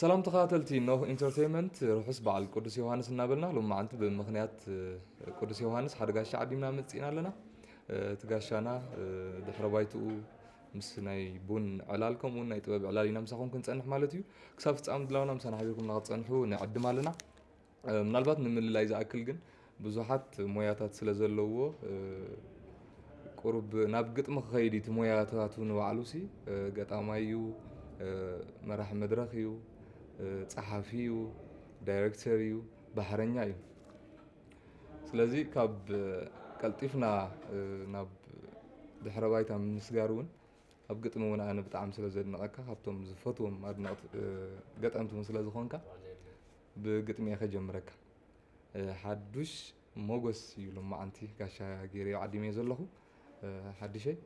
ሰላም ተኸታተልቲ ኖህ ኢንተርቴንመንት ርሑስ በዓል ቅዱስ ዮሃንስ እናበልና ሎም መዓልቲ ብምክንያት ቅዱስ ዮሃንስ ሓደ ጋሻ ዓዲምና መፅእና ኣለና እቲ ጋሻና ድሕረ ባይትኡ ምስ ናይ ቡን ዕላል ከምኡውን ናይ ጥበብ ዕላል ኢና ምሳኹም ክንጸንሕ ማለት እዩ ክሳብ ፍጻ ምድላውና ምሳና ሓቢርኩም ናክትጸንሑ ንዕድም ኣለና ምናልባት ንምልላይ ዝኣክል ግን ብዙሓት ሞያታት ስለ ዘለዎ ቁሩብ ናብ ግጥሚ ክኸይድ እቲ ሞያታቱ ንባዕሉ ሲ ገጣማይ እዩ መራሒ መድረኽ እዩ ጸሓፊ እዩ ዳይረክተር እዩ ባሕረኛ እዩ ስለዚ ካብ ቀልጢፍና ናብ ድሕረ ባይታ ምስጋር እውን ኣብ ግጥሚ እውን ኣነ ብጣዕሚ ስለ ዘድንቐካ ካብቶም ዝፈትዎም ኣድነቕቲ ገጠምቲ እውን ስለ ዝኾንካ ብግጥሚ እየ ከጀምረካ ሓዱሽ ሞጎስ እዩ ሎማዓንቲ ጋሻ ገይረዮ ዓዲመዮ ዘለኹ ሓድሸይ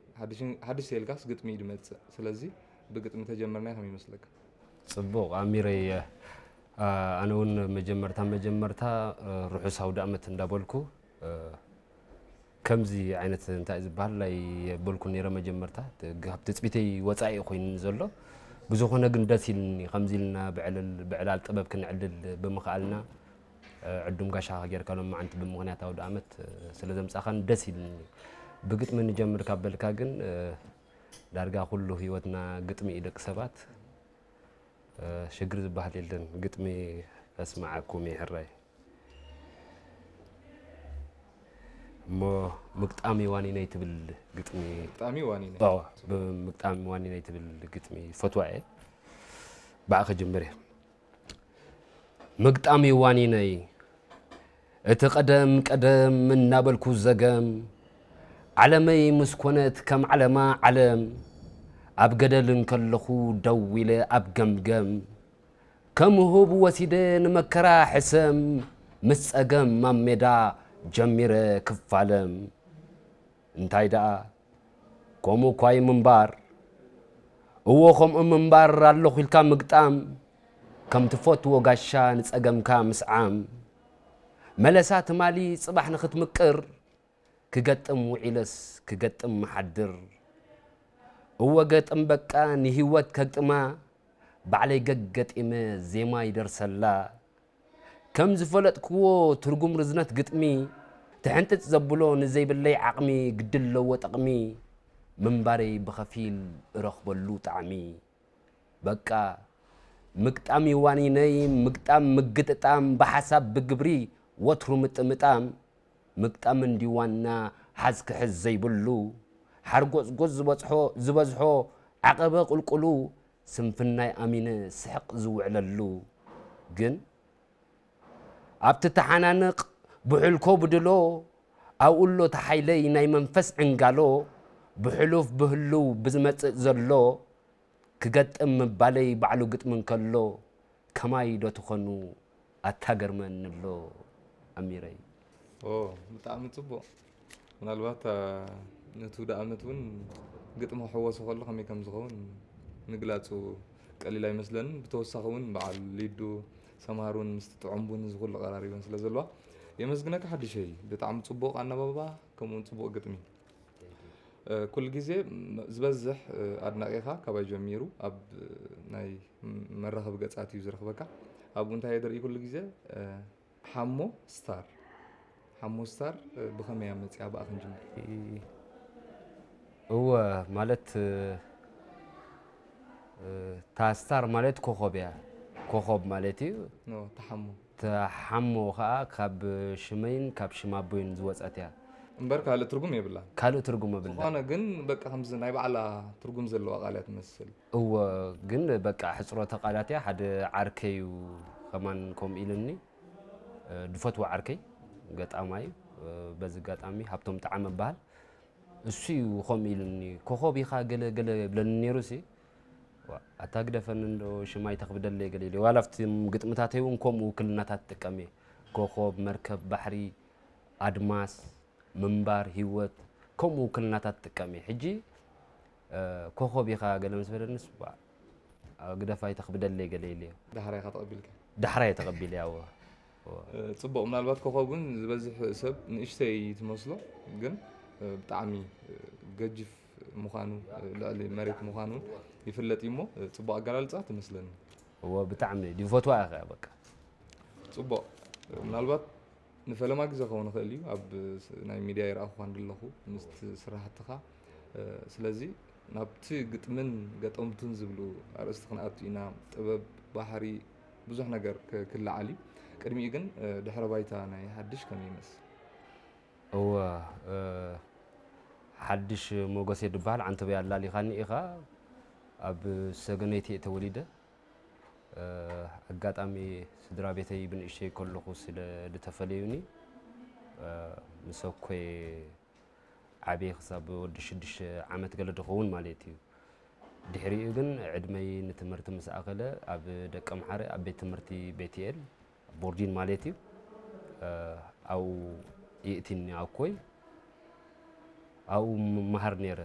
ሓድሽ ተይልካስ ግጥሚ እዩ ድመጽእ ስለዚ ብግጥሚ ተጀመርናዮ ከመይ ይመስለካ። ጽቡቅ ኣሚረይ ኣነ ውን መጀመርታ መጀመርታ ርሑስ ኣውዳእመት እንዳበልኩ ከምዚ ዓይነት እንታይ ዝበሃል ኣይበልኩን ነይረ መጀመርታ ካብ ትጽቢተይ ወጻኢ ኮይኑ ዘሎ ብዝኾነ ግን ደስ ኢልኒ ከምዚ ኢልና ብዕላል ጥበብ ክንዕልል ብምኽኣልና ዕዱም ጋሻኻ ጌርካ ሎም መዓንቲ ብምኽንያት ኣውድኣመት ስለ ዘምጻኻን ደስ ኢልኒ። ብግጥሚ ንጀምር ካብ በልካ ግን ዳርጋ ኩሉ ህይወትና ግጥሚ እዩ ደቂ ሰባት ሽግር ዝበሃል የለን። ግጥሚ ከስምዓኩም እየ ሕራይ እሞ ምግጣሚ ዋኒነይ ትብል ግጥሚ ግጣሚ ዋኒነይ ምግጣሚ ዋኒነይ ትብል ግጥሚ ፈትዋ እየ ባዕ ከጀምር እየ ምግጣም'ዩ ዋኒነይ እቲ ቀደም ቀደም እናበልኩ ዘገም ዓለመይ ምስ ኮነት ከም ዓለማ ዓለም ኣብ ገደል እንከለኹ ደው ኢለ ኣብ ገምገም ከም ሁብ ወሲደ ንመከራ ሕሰም ምስ ጸገም ኣብ ሜዳ ጀሚረ ክፋለም እንታይ ደኣ ከምኡ ኳይ ምንባር እዎ ከምኡ ምንባር ኣለኹ ኢልካ ምግጣም ከም ትፈትዎ ጋሻ ንጸገምካ ምስዓም መለሳ ትማሊ ጽባሕ ንኽትምቅር ክገጥም ውዒለስ ክገጥም ምሓድር እወ ገጥም በቃ ንሂወት ከግጥማ ባዕለይ ገግ ገጢመ ዜማ ይደርሰላ ከም ዝፈለጥክዎ ትርጉም ርዝነት ግጥሚ ትሕንጥጥ ዘብሎ ንዘይብለይ ዓቕሚ ግዲ ኣለዎ ጠቕሚ ምንባረይ ብኸፊል እረኽበሉ ጣዕሚ በቃ ምግጣም እዩ ዋኒነይ ምግጣም ምግጥጣም ብሓሳብ ብግብሪ ወትሩ ምጥምጣም ምግጣም እንድዩ ዋና ሓዝ ክሕዝ ዘይብሉ ሓርጎጽጎጽ ዝበጽሖ ዝበዝሖ ዓቐበ ቁልቁሉ ስንፍናይ ኣሚነ ስሕቕ ዝውዕለሉ ግን ኣብቲ ተሓናንቕ ብሑልኮ ብድሎ ኣብኡሎ ተሓይለይ ናይ መንፈስ ዕንጋሎ ብሕሉፍ ብህሉው ብዝመጽእ ዘሎ ክገጥም ምባለይ ባዕሉ ግጥሚ እንከሎ ከማይ ዶ ትኮኑ ኣታ ገርመኒ ኣሎ ኣሚረይ። ኦው ብጣዕሚ ጽቡቅ ምናልባት ነቲ ውደ ኣመት ውን ግጥሚ ክሕወሶ ከሎ ከመይ ከም ዝኸውን ምግላጹ ቀሊል ኣይመስለንን ብተወሳኺ ውን በዓል ሊዱ ሰምሃር ውን ምስቲ ጥዑም ቡን እዚ ኩሉ ቀራሪበን ስለ ዘለዋ የመስግነካ ሓድሸይ ብጣዕሚ ጽቡቅ ኣናባብባ ከምኡ ውን ጽቡቅ ግጥሚ ኩሉ ግዜ ዝበዝሕ ኣድናቒኻ ካባይ ጀሚሩ ኣብ ናይ መራኸቢ ገጻት እዩ ዝረኽበካ ኣብኡ እንታይ የደርኢ ኩሉ ግዜ ሓሞ ስታር ሓሞ ስታር ብኸመይ ኣብ መፅኣ ብኣ ክንጅምር እወ ማለት እታ ስታር ማለት ኮኸብ እያ ኮኸብ ማለት እዩ ተሓሞ እታ ሓሞ ከኣ ካብ ሽመይን ካብ ሽም ኣቦይን ዝወጸት እያ። እምበር ካልእ ትርጉም የብላን። ካልእ ትርጉም የብላን። ዝኾነ ግን በቃ ከምዚ ናይ ባዕላ ትርጉም ዘለዋ ቃል እያ ትመስል። እወ ግን በቃ ሕጽሮተ ቃላት እያ። ሓደ ዓርከይ እዩ ከማን ከምኡ ኢሉኒ፣ ዝፈትዎ ዓርከይ ገጣማይ እዩ። በዚ ኣጋጣሚ ሃብቶም ጠዓመ እበሃል። እሱ እዩ ከምኡ ኢሉኒ፣ ኮኾብ ኢኻ ገለ ገለ ይብለኒ ነይሩሲ፣ ዋእ ኣታ ግደፈኒ እንዶ ሽማይ ተኽብደለይ ገሊሊ ዋላ ኣብቲ ግጥምታተይ እውን ከምኡ ውክልናታት ትጥቀም እየ ኮኾብ መርከብ ባሕሪ ኣድማስ ምንባር ሂወት ከምኡ ውክልናታት ትጥቀም እየ ሕጂ ኮኾብ ኢኻ ገለ ምስ በለንስ ዋእ ግደፋይ ተኽብደለይ ገለ ኢለ ዳሕራይ ኢኻ ተቐቢልካ ዳሕራይ ተቐቢለ ያዎ ፅቡቕ ምናልባት ኮኾብ ግን ዝበዝሕ ሰብ ንእሽተይ ትመስሎ ግን ብጣዕሚ ገጅፍ ምዃኑ ልዕሊ መሬት ምዃኑ ውን ይፍለጥ እዩ እሞ ጽቡቅ ኣገላልጻ ትመስለኒ። እወ ብጣዕሚ ድዩ ፈትዋ እየ ከኣ በቃ። ጽቡቕ ምናልባት ንፈለማ ግዜ ክኸውን ይኽእል እዩ ኣብ ናይ ሚድያ ይርኣኹኻ ንድለኹ ምስቲ ስራሕትኻ ስለዚ ናብቲ ግጥምን ገጠምቱን ዝብሉ ኣርእስቲ ክንኣቱ ኢና ጥበብ ባህሪ ብዙሕ ነገር ክልዓል እዩ ቅድሚኡ ግን ድሕረ ባይታ ናይ ሓድሽ ከመይ ይመስል እወ ሓድሽ ሞገሴ ድበሃል ዓንተበይ ኣላሊኻኒ ኢኻ ኣብ ሰገነይቲ እየ ተወሊደ ኣጋጣሚ ስድራ ቤተይ ብንእሽተይ ከለኹ ስለ ዝተፈለዩኒ ምስ ኣኮይ ዓብየ ክሳብ ወዲ ሽዱሽተ ዓመት ገለ ድኸውን ማለት እዩ ድሕሪኡ ግን ዕድመይ ንትምህርቲ ምስ ኣኸለ ኣብ ደቀምሓረ ኣብ ቤት ትምህርቲ ቤትኤል ቦርጂን ማለት እዩ ኣብኡ ይእቲኒ ኣኮይ ኣብኡ ምመሃር ነይረ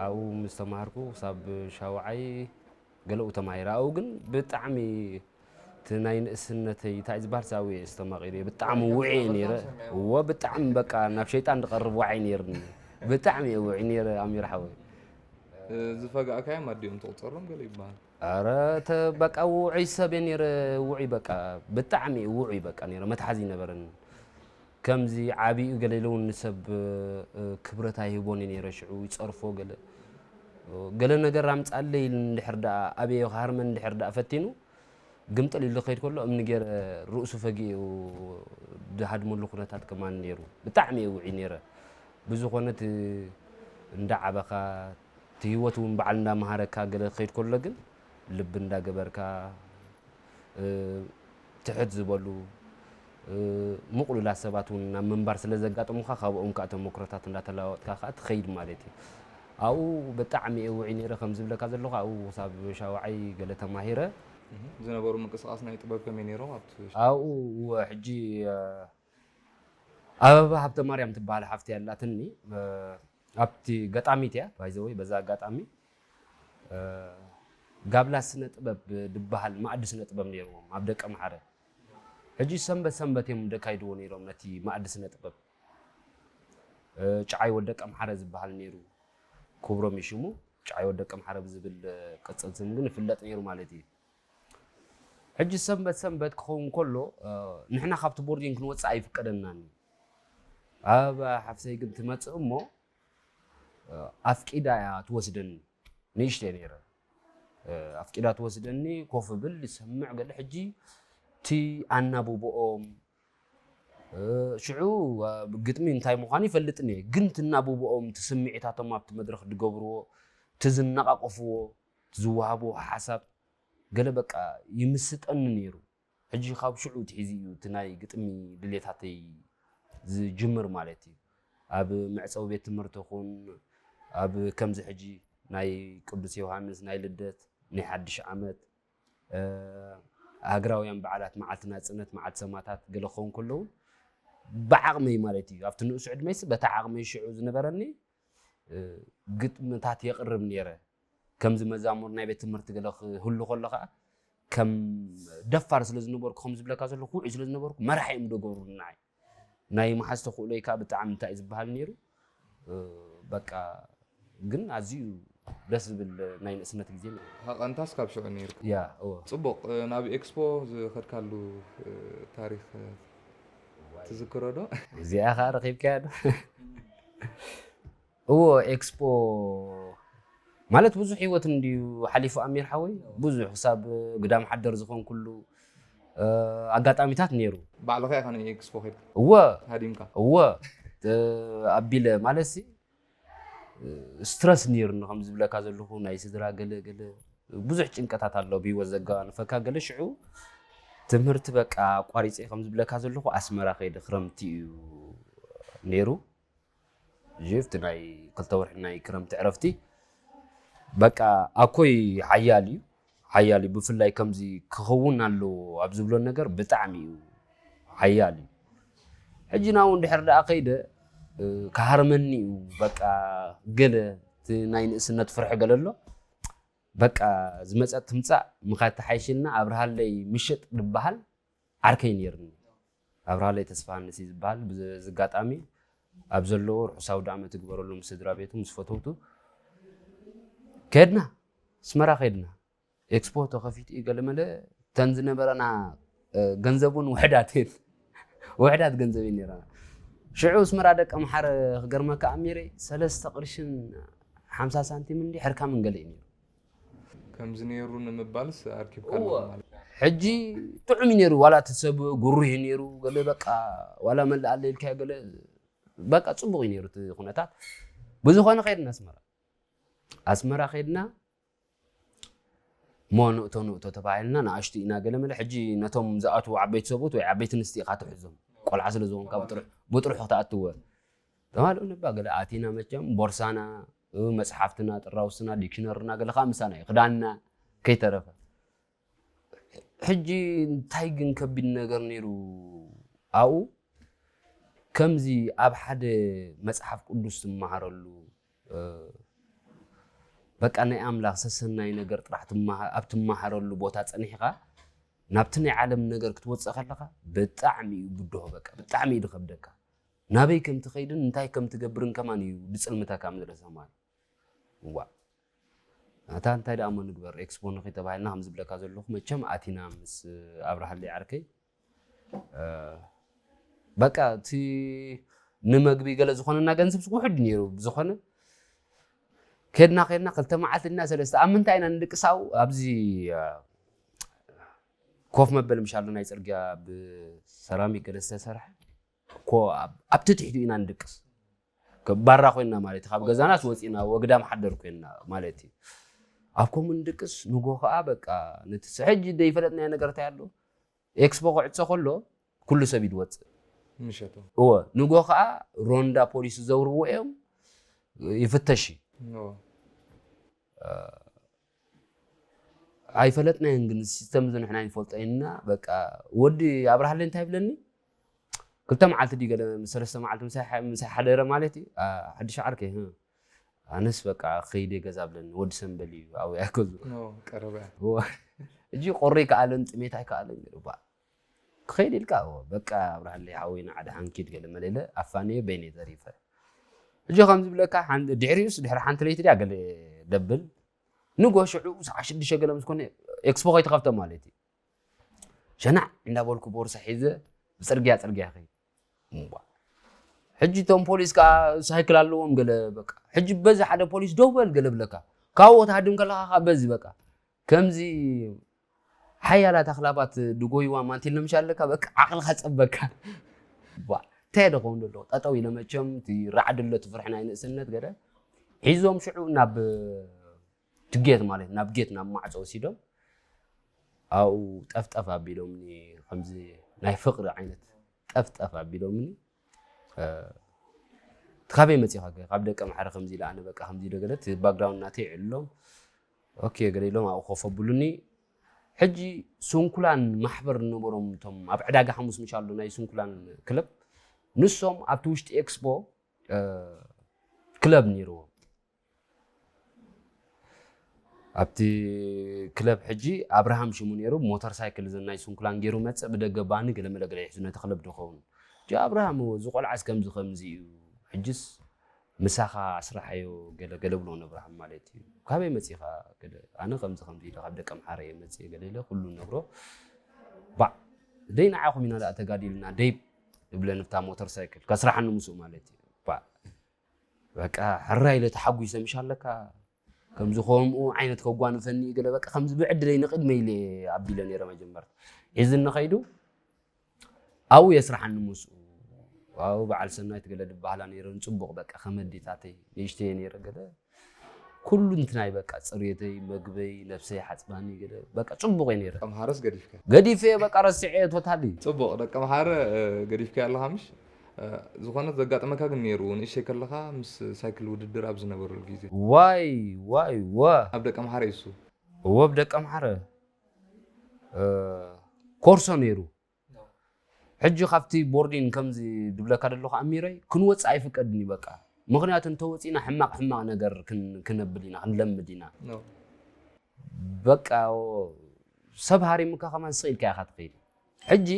ኣብኡ ምስ ተማሃርኩ ክሳብ ሻውዓይ ገለኡ ተማሂረ ኣብኡ ግን ብጣዕሚ እቲ ናይ ንእስነተይ እንታይ ዝበሃል ሳብ ውዒ ዝተማቂሩ እየ ብጣዕሚ ውዒ እየ ነይረ እዎ ብጣዕሚ በቃ ናብ ሸይጣን ዝቐርብ ዋዒ ነይርኒ ብጣዕሚ እየ ውዒ ነይረ ኣሚር ሓወይ ዝፈጋእካዮም ኣዲኦም ትቑፀሮም ገለ ይበሃል ኣረ እተ በቃ ውዑይ ሰብ እየ ነይረ ውዑይ በቃ ብጣዕሚ እዩ ውዑይ በቃ ነይረ መትሓዚ ነበረን ከምዚ ዓብኡ ገለ ኢለ እውን ንሰብ ክብረት ኣይህቦን እዩ ነይረ ሽዑ ይፀርፎ ገለ ገለ ነገር ኣምፃለይ እንድሕር ደኣ ኣብዮ ክሃርመን እንድሕር ደኣ ፈቲኑ ግምጥል ኢሉ ከይድ ከሎ እምኒ ገይረ ርእሱ ፈጊኡ ድሃድመሉ ኩነታት ከማን ነይሩ ብጣዕሚ እየ ውዒ ነይረ ብዝኾነ እቲ እንዳ ዓበኻ እቲ ህይወት እውን በዓል እንዳመሃረካ ገለ ክኸይድ ከሎ ግን ልቢ እንዳገበርካ ትሕት ዝበሉ ምቕሉላት ሰባት እውን ናብ ምንባር ስለ ዘጋጥሙካ ካብኦም ከዓ ተመክሮታት እንዳተለዋወጥካ ከዓ ትኸይድ ማለት እዩ ኣብኡ ብጣዕሚ እየ ውዒ ነይረ ከም ዝብለካ ዘለኹ ኣብኡ ክሳብ ሻውዓይ ገለ ተማሂረ ዝነበሩ ምንቅስቃስ ናይ ጥበብ ከመይ ነይሮም ኣብኡ ሕጂ ኣበባ ሃብተማርያም ትበሃል ሓፍቲ ኣላትኒ ኣብቲ ገጣሚት እያ ባይ ዘ ወይ በዚ ኣጋጣሚ ጋብላ ስነ ጥበብ ድበሃል ማእዲ ስነ ጥበብ ነይርዎም ኣብ ደቀ መሓረ ሕጂ ሰንበት ሰንበት እዮም ደካይድዎ ነይሮም ነቲ ማእዲ ስነ ጥበብ ጭዓይ ወደቀ መሓረ ዝበሃል ነይሩ ክብሮም እዩ ሽሙ ጭዓይ ወደቀ መሓረ ብዝብል ቅፅል ስም ግን ይፍለጥ ነይሩ ማለት እዩ ሕጂ ሰንበት ሰንበት ክኸውን ከሎ ንሕና ካብቲ ቦርዲን ክንወፅእ ኣይፍቀደናን እዩ ኣብ ሓፍተይ ግን ትመጽእ እሞ ኣፍቂዳ እያ ትወስደኒ ንእሽተይ ነይረ ኣፍቂዳ ትወስደኒ ኮፍ ብል ይሰምዕ ገለ ሕጂ እቲ ኣናብብኦም ሽዑ ግጥሚ እንታይ ምዃኑ ይፈልጥኒ እየ ግን ትናብብኦም እቲ ስምዒታቶም ኣብቲ መድረኽ ዝገብርዎ እቲ ዝነቓቕፍዎ ዝወሃብዎ ሓሳብ ገለ በቃ ይምስጠኒ ነይሩ ሕጂ ካብ ሽዑ ትሒዙ እዩ እቲ ናይ ግጥሚ ድሌታተይ ዝጅምር ማለት እዩ። ኣብ መዕጸዊ ቤት ትምህርቲ ኩን ኣብ ከምዚ ሕጂ ናይ ቅዱስ ዮውሃንስ ናይ ልደት ናይ ሓድሽ ዓመት ሃገራውያን በዓላት መዓልቲ ናጽነት መዓልቲ ሰማታት ገለ ክኸውን ከሎ ውን ብዓቕመይ ማለት እዩ ኣብቲ ንኡስ ዕድመይሲ በታ ዓቕመይ ሽዑ ዝነበረኒ ግጥምታት የቕርብ ነይረ። ከምዚ መዛሙር ናይ ቤት ትምህርቲ ገለ ክህሉ ከሎ ከኣ ከም ደፋር ስለ ዝነበርኩ ከም ዝብለካ ዘለኹ ውዑይ ስለ ዝነበርኩ መራሒ እዮም ደገሩኒ ንዓይ። ናይ ምሓዝ ተኽእሎይ ከኣ ብጣዕሚ እንታይ እዩ ዝበሃል ነይሩ በቃ ግን ኣዝዩ ደስ ዝብል ናይ ንእስነት ግዜ ነይሩ። ሃቐንታስ ካብ ሽዑ ነይርካ። ያ እወ። ጽቡቕ፣ ናብ ኤክስፖ ዝኸድካሉ ታሪኽ? ትዝክሮ ዶ? እዚኣ ከዓ ረኪብካያ ዶ? እዎ ኤክስፖ ማለት ብዙሕ ህይወት እንድዩ ሓሊፉ ኣሚር ሓወይ ብዙሕ ክሳብ ግዳም ሓደር ዝኾንኩሉ ኣጋጣሚታት ነይሩ። ባዕልኻ ኢኻ ንኤክስፖ ከይድካ እወ ሃዲምካ? እወ ኣቢለ ማለት ስትረስ ነይሩኒ ከም ዝብለካ ዘለኹ ናይ ስድራ ገለ ገለ ብዙሕ ጭንቀታት ኣሎ ብሂወት ዘጋንፈካ ገለ ሽዑ ትምህርቲ በቃ ኣቋሪፀ ከም ዝብለካ ዘለኹ ኣስመራ ከይደ ክረምቲ እዩ ነይሩ ጀፍቲ ናይ ክልተ ወርሒ ናይ ክረምቲ ዕረፍቲ በቃ ኣኮይ ሓያል እዩ ሓያል እዩ ብፍላይ ከምዚ ክኸውን ኣለዎ ኣብ ዝብሎ ነገር ብጣዕሚ እዩ ሓያል እዩ ሕጂ ናውን ድሕር ደኣ ከይደ ክሃርመኒ እዩ በቃ ገለ እቲ ናይ ንእስነት ፍርሒ ገለ ኣሎ በቃ ዝመፀት ትምፃእ ምኻድ ተሓይሽልና ኣብርሃለይ ምሽጥ ድበሃል ዓርከይ ነይርኒ ኣብርሃለይ ተስፋሃንስ እዩ ዝበሃል ብዚ ኣጋጣሚ ኣብ ዘለዎ ርሑስ ኣውዳኣመት ይግበረሉ ምስ ስድራ ቤቱ ምስ ፈተውቱ ከድና ኣስመራ ከድና ኤክስፖ ተኸፊቱ እዩ ገለመለ ተን ዝነበረና ገንዘብ እውን ውሕዳት እየን ውሕዳት ገንዘብ እየን ነይረና ሽዑ ኣስመራ ደቂ ኣምሓረ ክገርመካ ኣሚረ ሰለስተ ቅርሽን ሓምሳ ሳንቲም እንዲ ሕርካ መንገለ እዩ ነይሩ ከምዚ ነይሩ ንምባልስ ኣርኪብካ ኣለኹ እወ ማለት ሕጂ ጥዑም እዩ ነይሩ ዋላ እቲ ሰብ ጉሩህ እዩ ነይሩ ገለ በቃ ዋላ መላእ ኣለ ኢልካዮ ገለ በቃ ፅቡቕ እዩ ነይሩ እቲ ኩነታት ብዝኾነ ከድና ኣስመራ ኣስመራ ከድና እሞ ንእቶ ንእቶ ተባሂልና ንኣሽቱ ኢና ገለ መለ ሕጂ ነቶም ዝኣትዉ ዓበይቲ ሰብኡት ወይ ዓበይቲ ኣንስቲ ኢኻ ትሕዞም ቆልዓ ስለ ዝኾንካ ብጥሩሕ ብጥሩሕ ክትኣትወ ተባሃሉ ንባ ገለ ኣቲና መቸም ቦርሳና መጽሓፍትና፣ ጥራውስና፣ ዲክሽነርና ገለ ከኣ ምሳና እዩ፣ ክዳንና ከይተረፈ። ሕጂ እንታይ ግን ከቢድ ነገር ነይሩ ኣብኡ፣ ከምዚ ኣብ ሓደ መጽሓፍ ቅዱስ ትመሃረሉ፣ በቃ ናይ ኣምላኽ ሰሰናይ ነገር ጥራሕ ኣብ ትመሃረሉ ቦታ ጸኒሕኻ ናብቲ ናይ ዓለም ነገር ክትወጽእ ከለኻ ብጣዕሚ እዩ ብድሆ፣ በቃ ብጣዕሚ እዩ ዝኸብደካ። ናበይ ከም ትኸይድን እንታይ ከም ትገብርን ከማን እዩ ድጽልምተካ ምድረ ሰማይ ዋእ ኣታ እንታይ ደኣ እሞ ንግበር ኤክስፖ ንኺ ተባሂልና ከም ዝብለካ ዘለኹ መቸም ኣቲና ምስ ኣብርሃለይ ዓርከይ በቃ እቲ ንመግቢ ገለ ዝኾነና ገንዘብ ውሕድ ነይሩ ብዝኾነ ከድና ከድና ክልተ መዓልቲ እና ሰለስተ ኣብ ምንታይ ኢና ንደቂ ሳው ኣብዚ ኮፍ መበል ምሻሉ ናይ ፅርግያ ብሰራሚክ ገለ ዝተሰርሐ እኮ ኣብ ትትሒቱ ኢና ንድቅስ ባራ ኮይና ማለት እዩ ካብ ገዛናስ ወፂና ወግዳም ሓደር ኮይና ማለት እዩ ኣብ ከምኡ ንድቅስ ንጎ ከዓ በቃ ነቲ ሕጂ ዘይፈለጥናዮ ነገር እንታይ ኣሎ ኤክስፖ ክዕፆ ከሎ ኩሉ ሰብ እዩ ዝወፅእ ምሸቱ እወ ንጎ ከዓ ሮንዳ ፖሊስ ዝዘውርዎ እዮም ይፍተሽ እዩ ኦ፣ ኣይፈለጥናዮን ግን ሲስተም እዚ ንሕና ይንፈልጦ ኢና በቃ ወዲ ኣብርሃለይ እንታይ ይብለኒ ክልተ መዓልቲ ድዩ ገለ ምስ ሰለስተ መዓልቲ ምሳይ ሓደረ ማለት እዩ ሓድሽ ዓርከይ ኣነስ በቃ ከይደ ገዛ ብለኒ ወዲ ሰንበል እዩ ኣብያ ገዙ ቀረበ እጂ ቆሪ ከኣለን ጥሜት ኣይከኣለን ገባ ክኸይድ ኢልካ እወ በቃ ኣብርሃለይ ሓወይ ንዓ ድሓን ኪድ ገለመለ ኢለ ኣፋንየ በይነይ ተሪፈ ሕጂ ከም ዝብለካ ሓን ድሕሪኡስ ድሕሪ ሓንቲ ለይቲ ድያ ገለ ደብል ንጎ ሽዑ ሰዓ ሽዱሽተ ገለ ምስ ኮነ ኤክስፖ ከይተኸፍተ ማለት እዩ ሸናዕ እንዳበልኩ ቦርሳ ሒዘ ብፅርግያ ፅርግያ ከይድ እምቧ ሕጂ እቶም ፖሊስ ከዓ ሳይክል ኣለዎም ገለ በቃ ሕጂ በዚ ሓደ ፖሊስ ደው በል ገለ ብለካ ካብኡ ክትሃድም ከለካ ከዓ በዚ በቃ ከምዚ ሓያላት ኣኽላባት ድጎይዋ ማንቲል ንምሻ ኣለካ በቃ ዓቕልኻ ጸበካ ባ እንታይ ደኸውን ደሎ ጠጠው ኢለ መቸም እቲ ራዕዲ ኣሎ ትፍርሒ ናይ ንእስነት ገለ ሒዞም ሽዑ ናብ ትጌት ማለት ናብ ጌት ናብ ማዕጾ ወሲዶም ኣብኡ ጠፍጠፍ ኣቢሎምኒ ከምዚ ናይ ፍቕሪ ዓይነት ጠፍጠፍ ኣቢሎምኒ ካበይ መፂኻ ከ ካብ ደቀ ማሕረ ከምዚ ኢላ ኣነ በቃ ከምዚ ዶ ገለ እቲ ባክግራውንድ ናተይ ዕልሎም ኦኬ ገለ ኢሎም ኣብኡ ኮፍ ኣብሉኒ ሕጂ ስንኩላን ማሕበር ዝነበሮም እቶም ኣብ ዕዳጋ ሓሙስ ምሻ ኣሎ ናይ ስንኩላን ክለብ ንሶም ኣብቲ ውሽጢ ኤክስፖ ክለብ ነይርዎም ኣብቲ ክለብ ሕጂ ኣብርሃም ሽሙ ነይሩ ሞተር ሳይክል እዘን ናይ ስንኩላን ገይሩ መጽእ ብደገ ባኒ ገለመለ ገለ ይሕዙ ነቲ ክለብ ዶኸውን ጆ ኣብርሃም እወ እዚ ቆልዓስ ከምዚ ከምዚ እዩ ሕጅስ ምሳኻ ኣስርሓዮ ገለ ገለ ብሎ ነብርሃም ማለት እዩ ካበይ መጺኻ ገለ ኣነ ከምዚ ከምዚ ኢለ ካብ ደቂ ኣምሓረ እየ መጽእ ገለ ኢለ ኩሉ ነግሮ ባዕ ደይ ንዓኹም ኢና ደኣ ተጋዲልና ደይ እብለ ንብታ ሞተር ሳይክል ከስራሓኒ ምስኡ ማለት እዩ ባዕ በቃ ሕራይ ኢለ ተሓጒሰ ምሽ ኣለካ ከምዚ ከምኡ ዓይነት ከጓንፈኒ እዩ ገለ በቃ ከምዚ ብዕድለይ ንቕድመይ ኢለ ኣቢለ ነይረ መጀመርታ ሒዝኒ ከይዱ ኣብኡ የስራሓኒ ምስኡ ዋው በዓል ሰናይት ገለ ድበሃላ ነይረን ፅቡቕ በቃ ከመዲታተይ ንእሽተየ ነይረ ገለ ኩሉ እንትናይ በቃ ጽርየተይ መግበይ ነብሰይ ሓጽባኒ ገለ በቃ ጽቡቕ እየ ነይረ። ኣምሓረስ ገዲፍካ? ገዲፈዮ በቃ ረሲዐዮ ቶታሊ። ጽቡቕ ደቂ ኣምሓረ ገዲፍካዮ ኣለኻ ምሽ? ዝኾነ ዘጋጠመካ ግን ነይሩ ንእሽተይ ከለኻ ምስ ሳይክል ውድድር ኣብ ዝነበረሉ ግዜ? ዋይ ዋይ እወ። ኣብ ደቂ ኣምሓረ እዩ እሱ። እወ ኣብ ደቂ ኣምሓረ ኮርሶ ነይሩ። ሕጂ ካብቲ ቦርዲን ከምዚ ድብለካ ደለኩ ኣሚረይ ክንወጽእ ኣይፍቀድን እዩ በቃ ምክንያቱ እንተወጺና ሕማቅ ሕማቅ ነገር ክነብል ኢና ክንለምድ ኢና በቃ ሰብ ሃሪምካ ከማን ስቅ ኢልካ ኢካ ትከይድ ሕጂ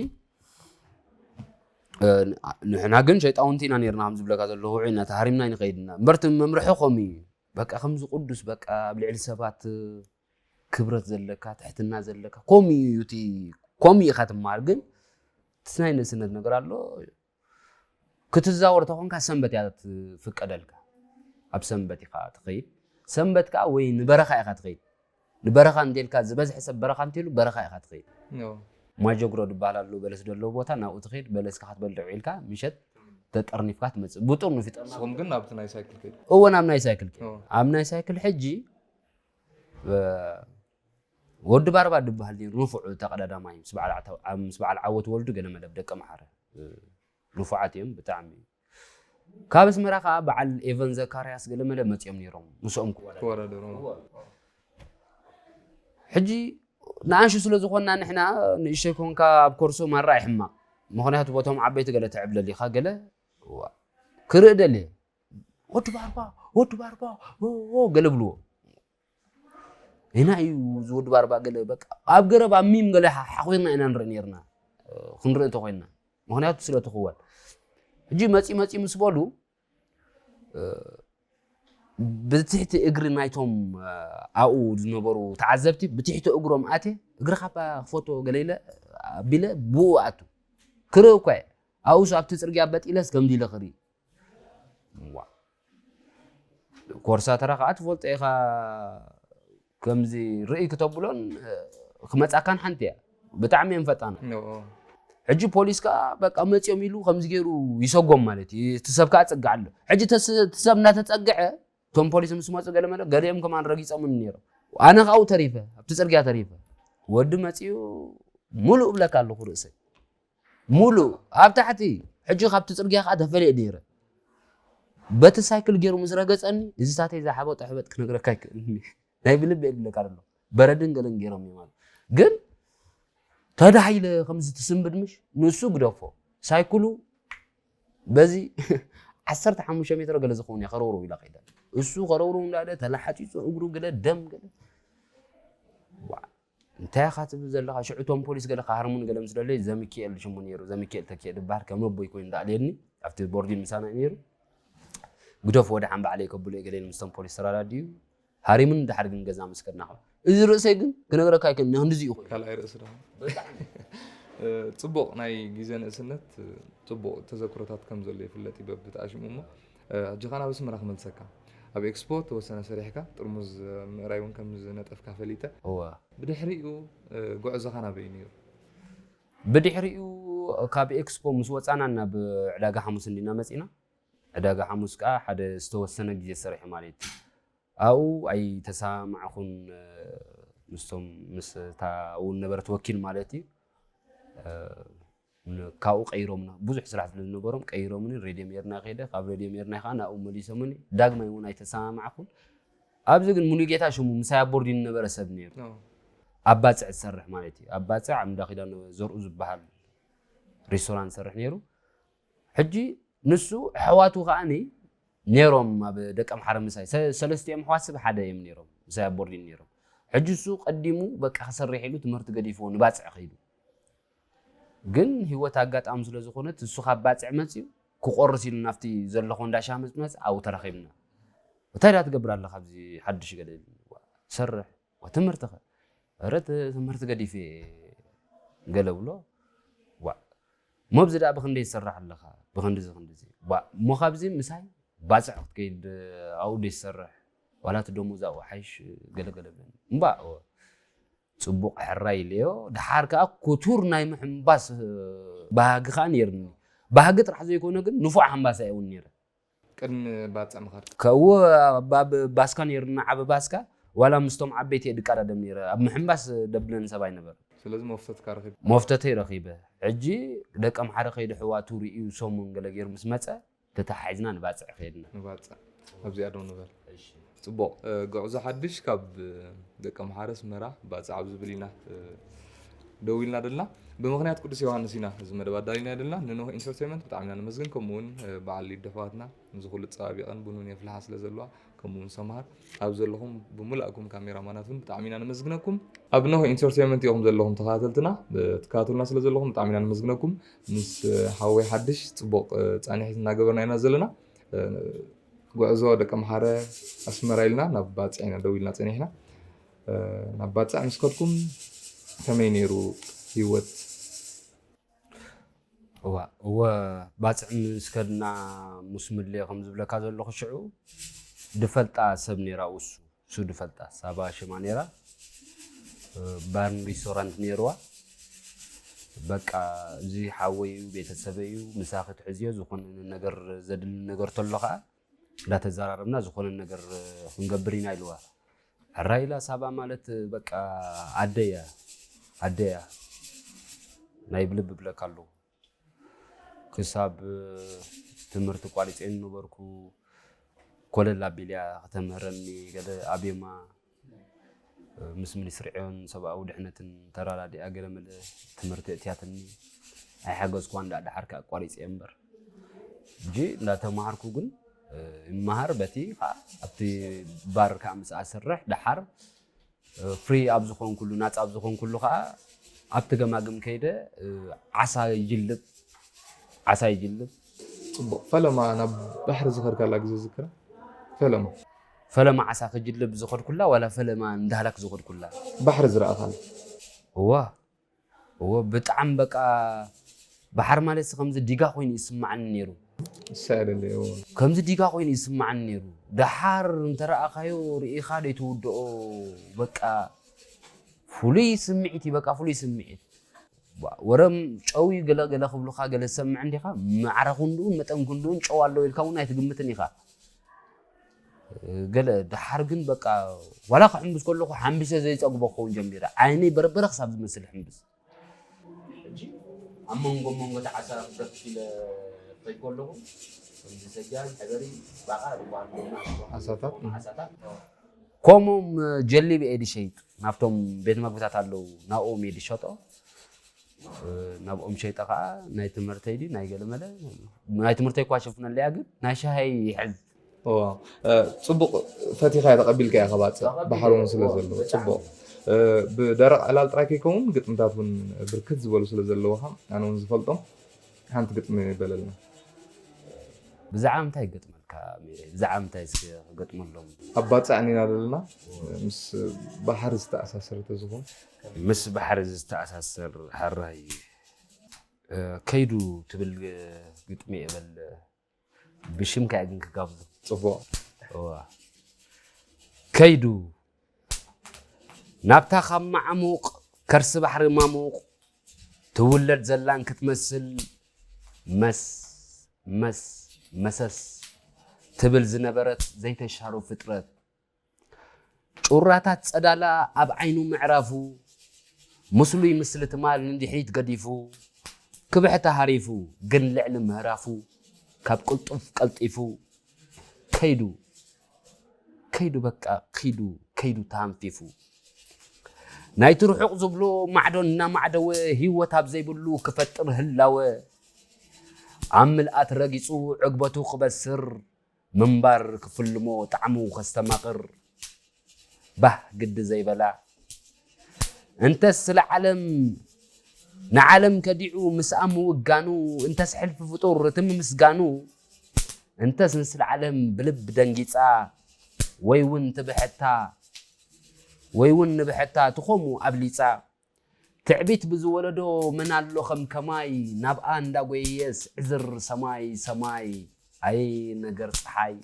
ንሕና ግን ሸይጣውንቲ ኢና ነርና ከም ዝብለካ ዘለኹ ውዑይ ኢና ተሃሪምና ይንኸይድና እምበርቲ መምርሒ ከምኡ እዩ በቃ ከምዚ ቅዱስ በቃ ኣብ ልዕሊ ሰባት ክብረት ዘለካ ትሕትና ዘለካ ከምኡ እዩ እቲ ከምኡ ኢኻ ትመሃር ግን እቲ ናይ ንእስነት ነገር ኣሎ ክትዛወር ተኾንካ ሰንበት እያ ትፍቀደልካ ኣብ ሰንበት ኢኻ ትኸይድ ሰንበት ከዓ ወይ ንበረኻ ኢኻ ትኸይድ ንበረኻ እንተልካ ዝበዝሐ ሰብ በረኻ እንተሉ በረኻ ኢኻ ትኸይድ ማጀግሮ ዝበሃል ኣሎ በለስ ዘለዎ ቦታ ናብኡ ትኸይድ በለስካ ክትበልዕ ውዒልካ ምሸት ተጠርኒፍካ ትመፅእ ብጥርኑፍ ይጠርንኹም ግን ናብቲ ናይ ሳይክል ከይድ እወ ናብ ናይ ሳይክል ከይድ ኣብ ናይ ሳይክል ሕጂ ወዲ ባርባ ድበሃል ነይሩ ንፉዕ ተቀዳዳማይ ምስ በዓል ዓተ- ዓ- ምስ በዓል ዓወት ወልዱ ገለ መደብ ደቂ መሓረ እ፣ ንፉዓት እዮም ብጣዕሚ ካብ ኣስመራ ከዓ በዓል ኤቨን ዘካርያስ ገለ መደብ መፅኦም ነይሮም ምስኦም ክወዳደሩ ክወዳደሩ ሕጂ ንኣንሹ ስለ ዝኾንና ንሕና ንእሽተይ ኮንካ ኣብ ኮርሶ ማራ ይሕማቕ ምክንያቱ ቦቶም ዓበይቲ ገለ ትዕብለል ኢኻ ገለ እዋ፣ ክርኢ ደልየ ወዲ ባርባ ወዲ ባርባ ገለ ብልዎ ኢና እዩ እዚ ወዲ ባርባ ገለ በቃ ኣብ ገረብ ኣብ ሚም ገለ ሓኺርና ኢና ንርኢ ነርና ክንርኢ እንተኮይንና ምክንያቱ ስለ ትኽወል ሕጂ መፂ መፂ ምስ በሉ ብትሕቲ እግሪ ናይቶም ኣብኡ ዝነበሩ ተዓዘብቲ ብትሕቲ እግሮም ኣቴ እግሪ ካባ ክፈቶ ገለ ኢለ ኣቢለ ብኡ ኣቱ ክርኢ እኳ ኣብኡስ ኣብቲ ፅርግያ በጢለስ ከምዚ ኢለ ክርኢ ዋእ ኮርሳተራ ከዓ ትፈልጦ ኢኻ ከምዚ ርእይ ክተብሎን ክመፃካን ሓንቲ እያ ብጣዕሚ እዮም ፈጣና ሕጂ ፖሊስ ከዓ በቃ መፅኦም ኢሉ ከምዚ ገይሩ ይሰጎም ማለት እዩ እቲ ሰብ ከዓ ፅግዕ ኣሎ ሕጂ እቲ ሰብ እናተፀግዐ እቶም ፖሊስ ምስ መፁ ገለ መለ ገሊኦም ከማን ረጊፆምን ነይሮም ኣነ ካብኡ ተሪፈ ኣብቲ ፅርግያ ተሪፈ ወዲ መፅኡ ሙሉእ እብለካ ኣለኹ ርእሰይ ሙሉእ ኣብ ታሕቲ ሕጂ ካብቲ ጽርግያ ከኣ ተፈልየ ነይረ በቲ ሳይክል ገይሩ ምስ ረገጸኒ እዚ ታተይ ዝሓበጦ ሕበጥ ክነግረካ ኣይክእልን ናይ ብልብ የብለካ ኣሎ በረድን ገለን ገይሮም እዮም ኣሉ ግን ተዳሂለ ከምዚ ትስንብድ ምሽ ንሱ ግደፎ ሳይክሉ በዚ ዓሰርተ ሓሙሽተ ሜትሮ ገለ ዝኸውን እያ ከረውርው ኢላ ከይዳ እሱ ከረውርው እንዳለ ተላሓፂፁ እግሩ ገለ ደም ገለ እንታይ ኢኻ ትብል ዘለኻ ሽዑ እቶም ፖሊስ ገለ ክሃርሙኒ ገለ ምስ ደለዩ ዘሚኪኤል ሽሙ ነይሩ ዘሚኪኤል ተኪኤ ዝብሃል ከም ኣቦይ ኮይኑ ዝኣልየኒ ኣብቲ ቦርዲን ምሳና እዩ ነይሩ ግደፍ ወድሓን ባዕለይ ከብሎ ገሌን ምስቶም ፖሊስ ተራዳድዩ ሃሪሙን ድሓር ግን ገዛ ምስ ከድና ከ እዚ ርእሰይ ግን ክነግረካ ኣይክእልን ንክንድዚ እዩ ኮይኑ ካልኣይ ርእሲ ድማ ጽቡቕ ናይ ግዜ ንእስነት ጽቡቕ ተዘክሮታት ከም ዘሎ ይፍለጥ እዩ በብተኣሽሙ እሞ ሕጂከ ናብ ኣስመራ ክመልሰካ። ኣብ ኤክስፖ ተወሰነ ሰሪሕካ ጥርሙዝ ምእራይ ውን ከም ዝነጠፍካ ፈሊጠ። እወ። ብድሕሪኡ ጉዕዞኻ ናበይ ነይሩ? ብድሕሪኡ ካብ ኤክስፖ ምስ ወጻና ናብ ዕዳጋ ሓሙስ እንዲና መጺና። ዕዳጋ ሓሙስ ከኣ ሓደ ዝተወሰነ ግዜ ሰሪሐ ማለት እዩ። ኣብኡ ኣይተሰማማዕኩን ምስቶም ምስታ ኣብኡ ዝነበረት ወኪል ማለት እዩ። ካብኡ ቀይሮምና ብዙሕ ስራሕ ስለ ዝነበሮም ቀይሮምኒ ሬድዮ ሜርና ከይደ ካብ ሬድዮ ሜርና ከኣ ናብኡ መሊሶምኒ ዳግማይ እውን ኣይተሰማማዕኩን ኣብዚ ግን ሙሉጌታ ሽሙ ምሳይ ኣብ ቦርዲን ዝነበረ ሰብ ነይሩ ኣብ ባፅዕ ዝሰርሕ ማለት እዩ ኣብ ባፅዕ ኣብ እንዳ ኪዳን ዘርኡ ዝበሃል ሬስቶራንት ዝሰርሕ ነይሩ ሕጂ ንሱ ኣሕዋቱ ከዓኒ ነይሮም ኣብ ደቂ ኣምሓረ ምሳይ ሰለስቲኦም ኣሕዋት ስብ ሓደ እዮም ነይሮም ምሳይ ኣብ ቦርዲን ነይሮም ሕጂ እሱ ቀዲሙ በቃ ክሰርሕ ኢሉ ትምህርቲ ገዲፍዎ ንባፅዕ ከይዱ ግን ሂወት ኣጋጣሚ ስለ ዝኮነት ንሱ ካብ ባጽዕ መጽዩ ክቆርስ ኢሉ ናብቲ ዘለኮ እንዳ ሻሂ ምስ መጸ ኣብኡ ተራኪብና እንታይ ድኣ ትገብር ኣለካ ኣብዚ ሓድሽ ገለ ኢሉኒ ሰርሕ ትምህርትከ ኧረ ትምህርቲ ገዲፈ ገለ ብሎ ዋእ እሞ ኣብዚ ድኣ ብክንደይ ትሰርሕ ኣለካ ብክንድዚ ክንድዚ ዋእ እሞ ካብዚ ምሳይ ባጽዕ ክትከይድ ኣብኡ ደይ ትሰርሕ ዋላ እቲ ደሞዝ ኣብኡ ሓይሽ ገለ ገለ ብለኒ እምባእ ጽቡቕ ሕራይ ኢለዮ፣ ደሓር ከኣ ክቱር ናይ ምሕንባስ ባህጊ ከኣ ነይሩኒ። ባህጊ ጥራሕ ዘይኮነ ግን ንፉዕ ሓንባሳይ እውን ነይረ። ቅድሚ ባጽዕ ምኻድካ? ከእወ፣ ኣብ ባስካ ነይሩኒ፣ ዓቢ ባስካ፣ ዋላ ምስቶም ዓበይቲ እየ ድቀዳደም ነይረ። ኣብ ምሕንባስ ደብለን ሰብ ኣይነበረን። ስለዚ መፍተትካ ረኺብካ? መፍተተይ ረኺበ። ሕጂ ደቀምሓረ ከይዱ ኣሕዋቱ ርእዩ ሰሙን ገለ ገይሩ ምስ መጸ፣ ተተሓሒዝና ንባጽዕ ከድና። ንባጽዕ ኣብዚኣ ደው ንበል። ጽቡቕ፣ ጉዕዞ ሓድሽ ካብ ደቀምሓረ ኣስመራ ባጽዕ ኣብ ዝብል ኢና ደው ኢልና ደልና። ብምኽንያት ቅዱስ ዮሃንስ ኢና እዚ መደብ ኣዳሊናዮ ደልና። ንኖህ ኢንተርተይመንት ብጣዕሚ ኢና ነመስግን፣ ከምኡ'ውን በዓል ሊዱ ኣሕዋትና፣ ነዚ ኩሉ ኣጸባቢቐን ቡንን የፍልሓ ስለ ዘለዋ። ከምኡ ውን ሰምሃር ኣብ ዘለኹም ብሙላእኩም ካሜራ ማናት ውን ብጣዕሚ ኢና ነመስግነኩም። ኣብ ኖህ ኢንተርቴይመንት ኢኹም ዘለኹም ተኸታተልትና ትከታተሉና ስለ ዘለኹም ብጣዕሚ ኢና ነመስግነኩም። ምስ ሓወይ ሓድሽ ጽቡቕ ጻኒሒት እናገበርና ኢና ዘለና። ጉዕዞ ደቂ ኣምሓረ ኣስመራ ኢልና ናብ ባጽዕ ኢና ደው ኢልና ጸኒሕና ናብ ባጽዕ ምስ ከድኩም ከመይ ነይሩ ሂወት እዋእ እወ ባጽዕ ምስ ከድና ሙስ ምድልየ ከም ዝብለካ ዘለኹ ሽዑ ድፈልጣ ሰብ ነይራ ውሱ ሱ ድፈልጣ ሳባ ሽማ ነይራ ባርን ሪስቶራንት ነይርዋ በቃ እዚ ሓወይ እዩ ቤተሰበይ እዩ ምሳኺ ትሕዝዮ ዝኾነ ነገር ዘድሊ ነገር ተሎ ከዓ እንዳተዘራረብና ዝኾነ ነገር ክንገብር ኢና ኢልዋ። ሕራይ ኢላ ሳባ ማለት በቃ ኣደ እያ ኣደ እያ ናይ ብልቢ ብለካ ኣለኹ ክሳብ ትምህርቲ ቋሪፀ ነበርኩ ኮለል ኣቢልያ ክተምህረኒ ገለ ኣብየማ ምስ ሚኒስትሪ ዕዮን ሰብኣዊ ድሕነትን ተራዳዲኣ ገለመለ ትምህርቲ እትያትኒ ኣይሓገዝኩዋን ዳኣ ደሓር ከ ኣቋሪፀ እምበር ሕጂ እንዳተማሃርኩ ግን ይመሃር በቲ ከዓ ኣብቲ ባር ከዓ ምስኣ ስርሕ ደሓር ፍሪ ኣብ ዝኾንኩሉ ናፃ ኣብ ዝኾንኩሉ ከዓ ኣብቲ ገማግም ከይደ ዓሳ ይጅልብ ዓሳ ይጅልብ ፅቡቅ ፈለማ ናብ ባሕሪ ዝኸድካላ ግዜ ዝክራ ፈለማ ፈለማ ዓሳ ክጅልብ ዝኸድኩላ ዋላ ፈለማ ንዳህላክ ዝኸድኩላ? ባሕሪ ዝረኣኻን? እወ እወ ብጣዕሚ በቃ ባሕሪ ማለት ከምዚ ዲጋ ኮይኑ ይስማዓኒ ነይሩ። ይሰኣለለይ እወ። ከምዚ ዲጋ ኮይኑ ይስማዓኒ ነይሩ። ደሓር እንተረኣኻዮ ርኢኻ ዘይትውድኦ በቃ ፍሉይ ስምዒት እዩ በቃ ፍሉይ ስምዒት። ወረም ጨው እዩ ገለ ገለ ክብሉኻ ገለ ትሰምዕ እንዲኻ ማዕረ ክንድኡን መጠን ክንድኡን ጨው ኣለዎ ኢልካ እውን ኣይትግምትን ኢኻ። ገለ ደሓር ግን በቃ ዋላ ክሕምብስ ከለኹ ሓምቢሰ ዘይፀግቦ ክኸውን ጀሚረ ዓይነይ በርበረ ክሳብ ዝመስል ሕምብስ ሕጂ ኣብ መንጎ መንጎ እቲ ዓሳ ክገፍፍ ኢለ ከይ ከለኹ ከምዚ ሰጃል ሕበሪ ባቃ ዝበሃል ዓሳታት ዓሳታት ከምኡም ጀሊብ እየ ድሸይጥ ናብቶም ቤት መግብታት ኣለዉ ናብኦም እየ ድሸጦ ናብ ኦም ሸይጠ ከዓ ናይ ትምህርተይ ድዩ ናይ ገለመለ ናይ ትምህርተይ እኳ ሸፍነለያ ግን ናይ ሻሃይ ይሕዝ ፅቡቅ ፈቲኻያ ተቀቢልካያ ከባፅእ ባሕሪ እውን ስለ ዘለዎ ፅቡቅ ብደረቅ ዕላል ጥራይ ከይከውን ግጥምታት እውን ብርክት ዝበሉ ስለ ዘለውኻ ኣነ እውን ዝፈልጦም ሓንቲ ግጥሚ በለልና ብዛዕባ ምንታይ ክገጥመልካ ሜሬ ብዛዕባ ምንታይ እስኪ ክገጥመሎም ኣባፃዕኒና ዘለና ምስ ባሕሪ ዝተኣሳሰረ ተዝኾን ምስ ባሕሪ ዝተኣሳሰር ሐራይ ከይዱ ትብል ግጥሚ እየ በል ብሽምካ እየ ግን ክጋብዞ ፅቡቅ ከይዱ ናብታ ካብ ማዕሙቅ ከርሲ ባሕሪ ማሙቅ ትውለድ ዘላን ክትመስል መስ መስ መሰስ ትብል ዝነበረት ዘይተሻሩ ፍጥረት ጩራታት ጸዳላ ኣብ ዓይኑ ምዕራፉ፣ ምስሉይ ምስሊ ትማል ንድሕሪት ገዲፉ፣ ክብሕታ ሃሪፉ ግን ልዕሊ ምህራፉ፣ ካብ ቅልጡፍ ቀልጢፉ ከይዱ ከይዱ በቃ ክይዱ ከይዱ ተሃንፊፉ። ናይቲ ርሑቕ ዝብሎ ማዕዶ እናማዕደወ ህይወት ኣብ ዘይብሉ ክፈጥር ህላወ ኣብ ምልኣት ረጊጹ ዕግበቱ ክበስር ምንባር ክፍልሞ ጣዕሙ ከስተማቕር ባህ ግዲ ዘይበላ እንተስ ስለ ዓለም ንዓለም ከዲዑ ምስኣ ምውጋኑ እንተስ ሕልፊ ፍጡር እቲ ምምስጋኑ እንተስ ንስለ ዓለም ብልብ ደንጊጻ ወይ እውን ትብሕታ ወይ እውን ንብሕታ ትኾሙ ኣብሊጻ ትዕቢት ብዝወለዶ መን ኣሎ ከም ከማይ ናብኣ እንዳጎየየስ ዕዝር ሰማይ ሰማይ ኣየ ነገር ጸሓይ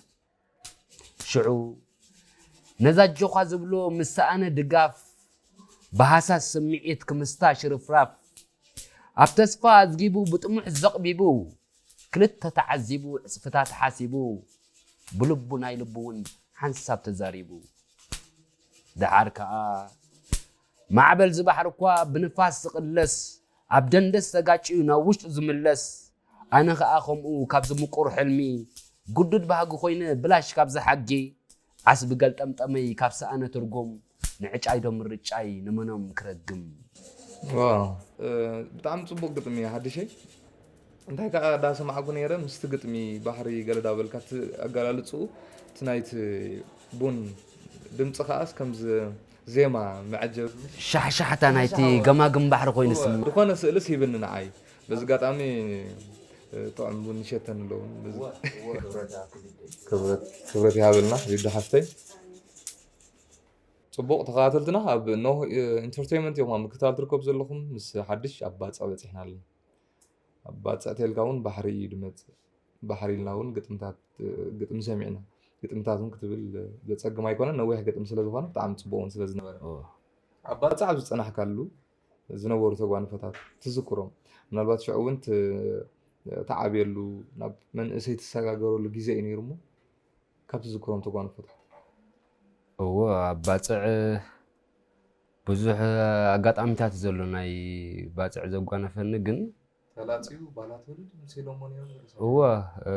ሽዑ ነዛ ኣጆዃ ዝብሎ ምስ ሰኣነ ድጋፍ ብሃሳስ ስምዒት ክምስታ ሽርፍራፍ ኣብ ተስፋ ኣዝጊቡ ብጥሙሕ ዘቕቢቡ ክልተ ተዓዚቡ ዕጽፍታት ሓሲቡ ብልቡ ናይ ልቡ እውን ሓንሳብ ተዛሪቡ ደሓር ከኣ ማዕበል ዝባሕሪ'ኳ ብንፋስ ዝቕለስ ኣብ ደንደስ ተጋጭዩ ናብ ውሽጡ ዝምለስ ኣነ ከኣ ከምኡ ካብዚ ምቁር ሕልሚ ግዱድ ባህጊ ኮይነ ብላሽ ካብ ዝሓጌ ዓስቢ ገልጠምጠመይ ካብ ሰኣነ ትርጉም ንዕጫይዶ ምርጫይ ንመኖም ክረግም። ዋው ብጣዕሚ ጽቡቅ ግጥሚ እዩ ሓድሸይ። እንታይ ከኣ ዳሰማዕኩ ነይረ ምስቲ ግጥሚ ባሕሪ ገለ ዳበልካ እቲ ኣገላልጽኡ እቲ ናይቲ ቡን ድምጺ ከኣስ ከምዚ ዜማ መዐጀቢ ምስ። ሻሕሻሕታ ናይቲ ገማግም ባሕሪ ኮይኑ እወ ስምዒት። ዝኾነ ስእልስ ሂብኒ ንዓይ በዚ ኣጋጣሚ ጥዑም ቡን ይሸተኒ ኣሎ ውን በዚ። ክብረት ይሃበልና ዩዲ ሓፍተይ። ጽቡቕ ተኸታተልትና ኣብ ኖህ ኢንተርተይመንት ኢኹም ኣብ ምክትታል ትርከቡ ዘለኹም ምስ ሓድሽ ኣብ ባጽዕ በጺሕና ኣለና። ኣባ ጸእቴልካ ውን ባሕሪ እዩ ድመጽእ ባሕሪ ኢልና ውን ግጥምታት ግጥሚ ሰሚዕና ግጥምታት ውን ክትብል ዘጸግም ኣይኮነን ነዊሕ ግጥሚ ስለ ዝኾነ ብጣዕሚ ጽቡቅ ውን ስለ ዝነበረ ኣባ ጸ ኣብ ዝጸናሕካሉ ዝነበሩ ተጓንፈታት ትዝክሮም ምናልባት ሽዑ ውን ትዓብየሉ ናብ መንእሰይ ትሰጋገረሉ ግዜ እዩ ነይሩ እሞ ካብ ትዝክሮም ተጓንፎታት እወ ኣባጽዕ ብዙሕ ኣጋጣሚታት እዩ ዘሎ ናይ ባጽዕ ዘጓነፈኒ ግን ተላጺዩ ባላ ትውልድ ምስ ኢሎሞን እዮም ዝርሰ እወ እ፣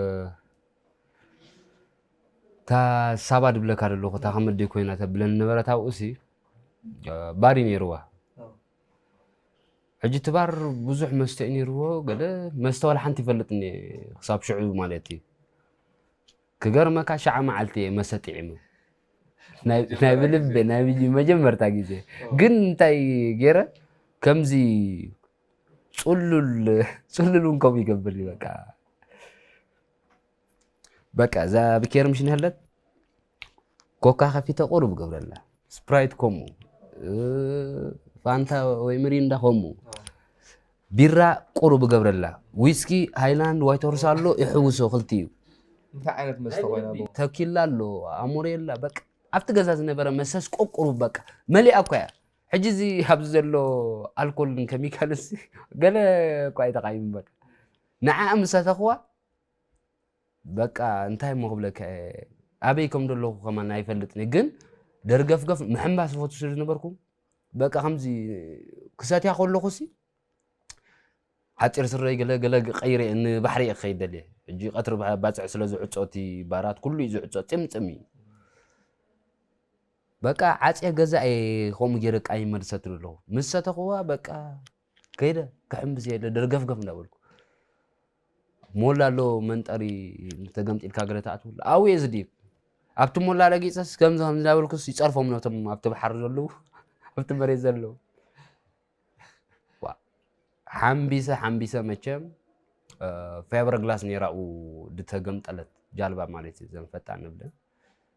እታ ሳባ ድብለካ ደለኹ እታ ከመዲ ኮይና ተብለኒ ነበረት ኣብኡሲ እ፣ ባር እዩ ነይርዋ ሕጂ እቲ ባር ብዙሕ መስተ እዩ ነይርዎ ገለ መስተ ዋላ ሓንቲ ይፈልጥኒ እየ ክሳብ ሽዑ ማለት እዩ ክገርመካ ሸዓ መዓልቲ እየ መስተ ጥዒመ ናይ ብልቢ ናይ መጀመርታ ግዜ ግን እንታይ ገይረ ከምዚ ፅሉል ፅሉል እውን ከምኡ ይገብር እዩ በቃ በቃ እዛ ብኬር ምሽ ንህለት ኮካ ከፊተ ቁሩብ ገብረላ ስፕራይት ከምኡ እ፣ ፋንታ ወይ ምሪንዳ ከምኡ ቢራ ቁሩብ እገብረላ ዊስኪ ሃይላንድ ዋይት ሆርስ ኣሎ ይሕውሶ ክልቲኡ። እንታይ ዓይነት መስተ ኮይና ብ ተኪላ ኣሎ ኣሞሬላ በቃ ኣብቲ ገዛ ዝነበረ መሰስ ቆቁሩብ በቃ መሊኣ እኳ እያ ሕጂ እዚ ኣብዚ ዘሎ ኣልኮልን ከሚካልስ ገለ እኳ ኣይተቃይሙ በቃ ንዓኣ ምሳተኽዋ በቃ እንታይ እሞ ክብለካ እየ ኣበይ ከም ዘለኹ ከማን ኣይፈልጥን እየ ግን ደርገፍገፍ ምሕንባስ ዝፈቱ ስለ ዝነበርኩ በቃ ከምዚ ክሰትያ ከለኹ ሲ ሓፂር ስረይ ገለ ገለ ቀይረ እየ ንባሕሪ እየ ክኸይድ ደልየ ሕጂ ቀትሪ ባ- ባፅዕ ስለ ዝዕፆ እቲ ባራት ኩሉ እዩ ዝዕፆ ፅምፅም እዩ በቃ ዓፅየ ገዛ እየ ከምኡ ገይረ ቃኝ መልሰት ኣለኹ ምስ ሰተኽዋ በቃ ከይደ ክሕምብስ እየ ደርገፍገፍ እንዳበልኩ ሞላ ኣሎ መንጠሪ ተገምጢልካ ገለ ትኣትወሉ ኣብኡ እየ ዝድይብ ኣብቲ ሞላ ረጊፀስ ከምዚ ከምዚ እንዳበልኩስ ይፀርፎም ነቶም ኣብቲ ባሕሪ ዘለዉ ኣብቲ መሬት ዘለዉ ዋ፣ ሓምቢሰ ሓምቢሰ መቸም ፌበር ግላስ ነይራ ኣብኡ ዝተገምጠለት ጃልባ ማለት እዩ ዘን ፈጣን ንብለን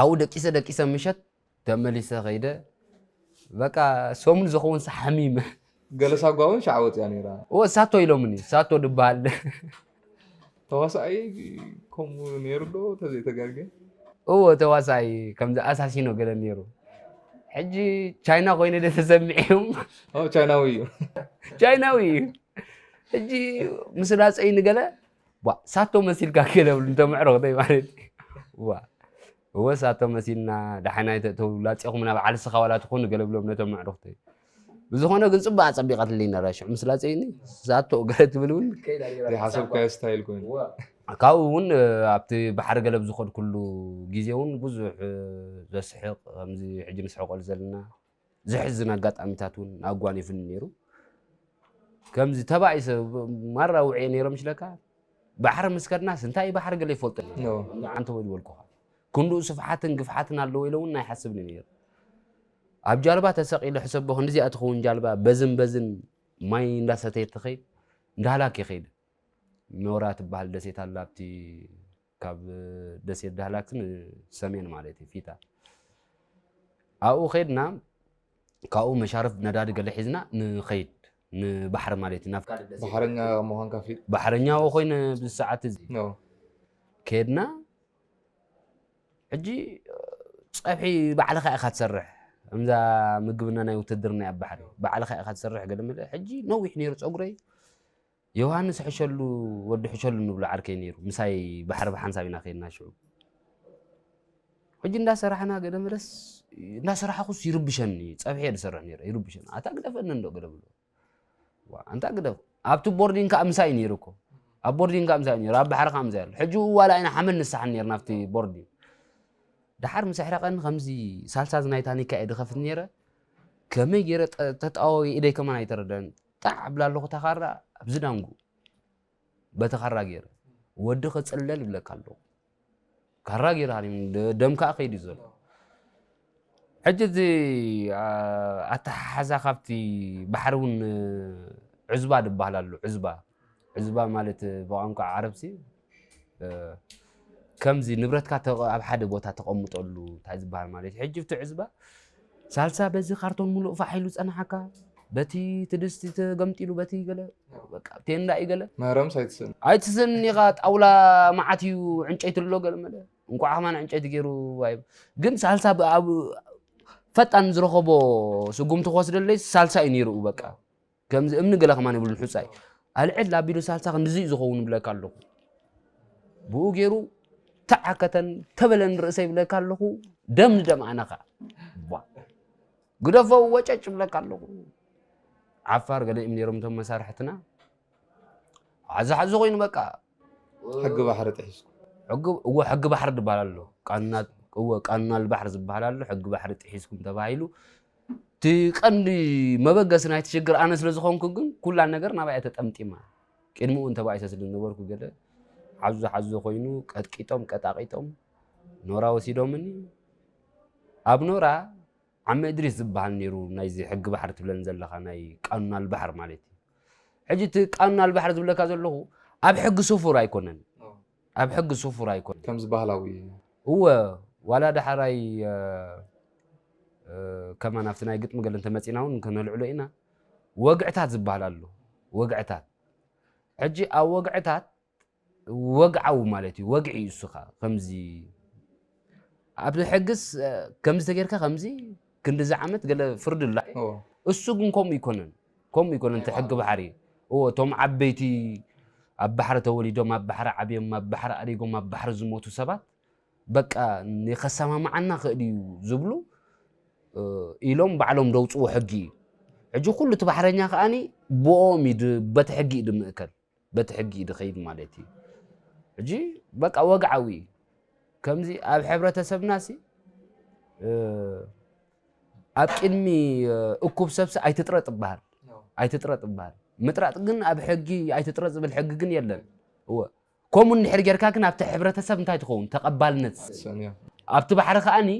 ኣብኡ ደቂሰ ደቂሰ ምሸት ተመሊሰ ከይደ በቃ ሰሙን ዝኸውን ሓሚመ ገለ ሳጓ እውን ሻዕ ወፅያ ነይራ እወ ሳቶ ኢሎምኒ ሳቶ ድበሃል ተዋሳኣይ ከምኡ ነይሩ ዶ ተዘይተጋገ እወ ተዋሳኣይ ከምዚ ኣሳሲኖ ገለ ነይሩ ሕጂ ቻይና ኮይነ ደ ተሰሚዕም ቻይናዊ እዩ ቻይናዊ እዩ ሕጂ ምስ ላፀይ ንገለ ቧእ ሳቶ መሲልካ ገለ ብሉ እንተ ምዕሩኽ ደይ ማለት እዩ ቧእ እወ ሳቶ መሲልና ዳሓና ይተእተው ላጼኹምና በዓል ስኻ ዋላ ትኹኑ ገለ ብሎም ነቶም ምዕሩኽ ደይ ብዝኾነ ግን ፅቡቅ ኣፀቢቀትልኝ ነራ ሽዑ ምስ ላፀይኒ ሳቶ ገለ ትብል እውን ሓሰብካዮ ስታይል ኮይኑ ካብኡ እውን ኣብቲ ባሕሪ ገለብ ዝኸድኩሉ ግዜ እውን ብዙሕ ዘስሕቕ ከምዚ ሕጂ ንስሕቀሉ ዘለና ዘሕዝን ኣጋጣሚታት እውን ኣጓኒፉኒ ነይሩ ከምዚ ተባኢሰ ማራ ውዕየ ነይሮም ይችለካ ባሕሪ ምስ ከድናስ እንታይ ባሕሪ ገለ ይፈልጦ ዓንተ ወይ ዝበልኩኻ ክንድኡ ስፍሓትን ግፍሓትን ኣለዎ ኢለ እውን ኣይሓስብኒ ነይሩ ኣብ ጃልባ ተሰቂለ ሕሰቦ ክንዲዚኣ ትኸውን ጃልባ በዝን በዝን ማይ እንዳሰተየ ትኸይድ እንዳሃላክ ይኸይድ ኖራ ትበሃል ደሴት ኣላ ኣብቲ ካብ ደሴት ዳህላክ ንሰሜን ማለት እዩ ፊታ ኣብኡ ከድና ካብኡ መሻርፍ ነዳዲ ገለ ሒዝና ንኸይድ ንባሕሪ ማለት እዩ ናብ ካልእ ደሴት ባሕረኛ ምዃንካ ፍሊጥ ባሕረኛ ኣብኡ ኮይነ ብዚ ሰዓት እዚ ኖ ከድና ሕጂ ፀብሒ ባዕልኻ ኢኻ ትሰርሕ እምዛ ምግብና ናይ ውትድርና ኣብ ባሕሪ ባዕልኻ ኢኻ ትሰርሕ ገለ መለ ሕጂ ነዊሕ ነይሩ ፀጉረይ ዮውሃንስ ሕሸሉ ወዲ ሕሸሉ ንብሎ ዓርከይ ነይሩ ምሳይ ባሕሪ ብሓንሳብ ኢና ከይድና ሽዑ ሕጂ እንዳሰራሕና ገለ መለስ እንዳሰራሕኩስ ይርብሸኒ እዩ ፀብሒ እየ ዝሰርሕ ነይረ ይርብሸኒ ኣታ ግደፈኒ እንዶ ገለ ብሎ ዋ ኣንታ ግደፍ ኣብቲ ቦርዲን ከዓ ምሳይ ነይሩ እኮ ኣብ ቦርዲን ከዓ ምሳይ ነይሩ ኣብ ባሕሪ ከዓ ምሳይ ኣሎ ሕጂ ዋላ ኢና ሓመድ ንሰሓን ነይርና ኣብቲ ቦርዲን ድሓር ምስ ኣሕረቐኒ ከምዚ ሳልሳዝ ናይ ታኒካ እየ ድኸፍት ነይረ ከመይ ገይረ ጠ- ተጣዋዊ ኢደይ ከማን ኣይተረድአን ጣዕ ኣብላ ኣለኹ እታ ኻራ ኣብዚ ዳንጉ በቲ ኻራ ገይረ ወዲ ክፅለል ይብለካ ኣለኹ ካራ ገይርሃኒ ደም ከዓ ከይድ እዩ ዘሎ ሕጂ እዚ ኣተሓሓዛ ካብቲ ባሕሪ እውን ዑዝባ ዝበሃል ኣሎ ዑዝባ ዑዝባ ማለት ብቋንቋ ዓረብሲ ከምዚ ንብረትካ ኣብ ሓደ ቦታ ተቐምጠሉ እንታይ ዝበሃል ማለት እዩ ሕጂ ትዕዝባ ሳልሳ በዚ ካርቶን ሙሉእ ፋሕ ኢሉ ፀናሓካ በቲ ትድስቲ ተገምጢሉ በቲ ገለ በቃ ቴንዳ እዩ ገለ መረምስ ኣይትስእን ኣይትስእን ኢኻ ጣውላ መዓት እዩ ዕንጨይቲ ኣሎ ገለ መለ እንኳዕ ከማን ዕንጨይቲ ገይሩ ኣይ ግን ሳልሳ ፈጣን ዝረኸቦ ስጉምቲ ክወስደለይ ሳልሳ እዩ ነይሩ በቃ ከምዚ እምኒ ገለ ከማን ይብሉን ሑጻይ ኣልዕል ኣቢሉ ሳልሳ ክንድዚ እዩ ዝኸውን ይብለካ ኣለኹ ብኡ ገይሩ ተዓከተን ተበለን ርእሰ ይብለካ ኣለኹ ደም ንደም ኣነ ከዓ ግደፎ ወጨጭ ይብለካ ኣለኹ ዓፋር ገለ እዮም ነይሮም እቶም መሳርሕትና ዓዚ ሓዚ ኮይኑ በቃ ሕጊ ባሕሪ ጥሒስኩ እወ ሕጊ ባሕሪ ዝበሃል ኣሎ እወ ቃኑና ልባሕሪ ዝበሃል ኣሎ ሕጊ ባሕሪ ጥሒስኩም ተባሂሉ እቲ ቀንዲ መበገሲ ናይቲ ሽግር ኣነ ስለ ዝኾንኩ ግን ኩላ ነገር ናባይ ተጠምጢማ ቅድሚ እውን ተባኢሰ ስለ ዝነበርኩ ገለ ሓዞ ሓዞ ኮይኑ ቀጥቂጦም ቀጣቂጦም ኖራ ወሲዶምኒ ኣብ ኖራ ዓመ እድሪስ ዝበሃል ነይሩ ናይዚ ሕጊ ባሕሪ ትብለን ዘለኻ ናይ ቃኑን ኣልባሕር ማለት እዩ ሕጂ እቲ ቃኑን ኣልባሕር ዝብለካ ዘለኹ ኣብ ሕጊ ስፉር ኣይኮነን ኣብ ሕጊ ስፉር ኣይኮነን። ከምዚ ባህላዊ እዩ። እወ ዋላ ዳሕራይ ከማን ኣብቲ ናይ ግጥሚ ገለ እንተመጺእና እውን ከነልዕሎ ኢና። ወግዕታት ዝበሃል ኣሎ። ወግዕታት ሕጂ ኣብ ወግዕታት ወግዓዊ ማለት እዩ ወግዒ እዩ እሱ ከዓ ከምዚ ኣብዚ ሕግስ ከምዚ ተጌርካ ከምዚ ክንዲዚ ዓመት ገለ ፍርዲ ኣሎ እሱ ግን ከምኡ ኣይኮነን ከምኡ ኣይኮነን እቲ ሕጊ ባሕሪ። እወ እቶም ዓበይቲ ኣብ ባሕሪ ተወሊዶም ኣብ ባሕሪ ዓብዮም ኣብ ባሕሪ ኣሪጎም ኣብ ባሕሪ ዝሞቱ ሰባት በቃ ከሰማምዓና ክእል እዩ ዝብሉ ኢሎም ባዕሎም ዘውፅዎ ሕጊ እዩ። ሕጂ ኩሉ እቲ ባሕረኛ ከኣ ብኦም እዩ በቲ ሕጊ እዩ ዝምእከል። በቲ ሕጊ እዩ ድኸይድ ማለት እዩ ሕጂ በቃ ወግዓዊ እዩ ከምዚ ኣብ ሕብረተሰብና ሲ ኣብ ቅድሚ እኩብ ሰብሲ ኣይትጥረጥ ይበሃል ኣይትጥረጥ ይበሃል ምጥራጥ ግን ኣብ ሕጊ ኣይትጥረጥ ዝብል ሕጊ ግን የለን እወ ከምኡ እንድሕር ጌርካ ግን ኣብቲ ሕብረተሰብ እንታይ ትኸውን ተቐባልነት ኣብቲ ባሕሪ ከዓኒ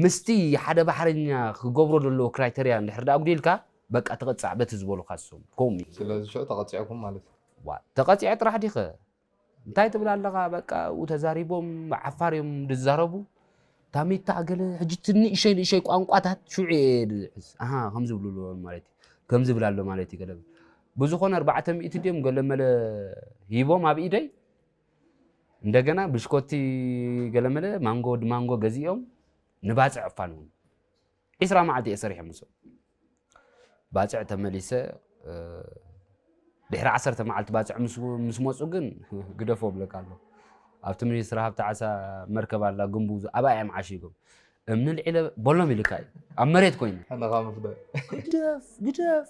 ምስቲ ሓደ ባሕረኛ ክገብሮ ዘለዎ ክራይተርያ እንድሕር ዳ ኣጉዲልካ በቃ ተቐጻዕ በቲ ዝበሉኻ ስም ኮም እዩ። ስለዚ ሽዑ ተቐጺዕኩም ማለት እዩ። ዋእ ተቐጺዐ ጥራሕ ዲኸ እንታይ ትብል ኣለኻ በቃ ኣብኡ ተዛሪቦም ብዓፋር እዮም ዝዛረቡ ታሚታ ገለ ሕጂ እቲ ንእሸይ ንእሸይ ቋንቋታት ሽዑ እየ ዝሕዝ ኣሃ ከም ዝብሉ ኣሎ ማለት እዩ ከም ዝብል ኣሎ ማለት እዩ ገለ ብዝኾነ ኣርባዕተ ሚእቲ ድዮም ገለመለ ሂቦም ኣብ ኢደይ እንደገና ብሽኮቲ ገለመለ ማንጎ ማንጎ ገዚኦም ንባፅዕ እፋን እውን ዒስራ መዓልቲ እየ ሰሪሐ ምስኦም ባፅዕ ተመሊሰ ድሕሪ ዓሰርተ መዓልቲ ባፅዕ ምስ መፁ ግን ግደፎ ብለካ ኣሎ ኣብቲ ሚኒስትሪ ሃብቲ ዓሳ መርከብ ኣላ ግንቡ ኣብኣ እዮም ዓሺጎም እምኒ ልዒለ በሎም ኢልካ እዩ ኣብ መሬት ኮይኑ ግደፍ ግደፍ